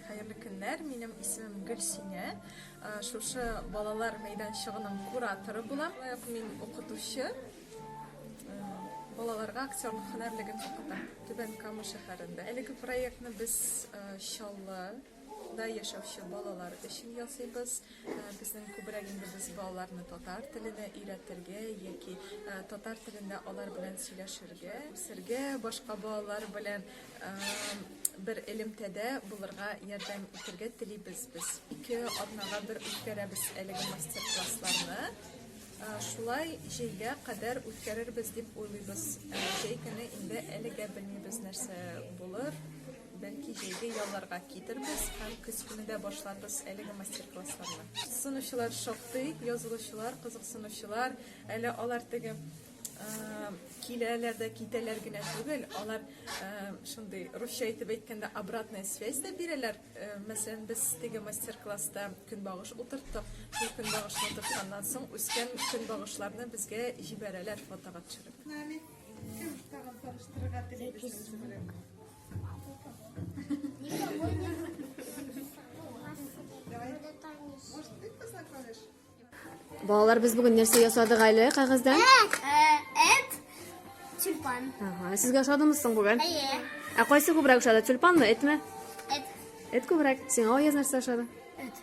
Хәерле көннәр, минем исемем Гөлсинә. Шушы балалар мәйданчыгының кураторы булам. Лайык мин укытучы. Балаларга актерлык һөнәрлеген укытам. Түбән Кама шәһәрендә. Әлеге проектны без Чаллы да яшәүче балалар өчен ясыйбыз. Безнең күбрәк инде без балаларны татар теленә өйрәтергә яки татар телендә алар белән сөйләшергә, сергә башка балалар белән бер элемтәдә булырга ярдәм итәргә телибез без. Ике атнага бер үткәрәбез әлеге мастер-классларны. Шулай җәйгә кадәр үткәрербез дип уйлыйбыз. Җәй көне инде әлегә белмибез нәрсә булыр. Бәлки җәйге ялларга китербез һәм көз көне дә башларбыз әлеге мастер-классларны. Сынучылар шактый, язылучылар, кызыксынучылар. Әле алар теге киләләр дә китәләр генә түгел, алар шундый русча итеп әйткәндә обратная связь дә бирәләр. Мәсәлән, без теге мастер-класста көнбагыш утырттык. Бу көнбагышны утыртканнан соң үскән көнбагышларны безгә җибәрәләр фотога төшереп. Нами, кем тагын таныштырырга телибез сезне белән? Давай. Может, ты познакомишь? Балалар, без бүген нәрсә ясадык әле кәгазьдән? Эт, тюльпан. Ага, сезгә ошадымы соң бүген? Әйе. Ә кайсы күбрәк ошады, тюльпанмы, этме? Эт. Эт күбрәк. Сиңа Аяз нәрсә ошады? Эт.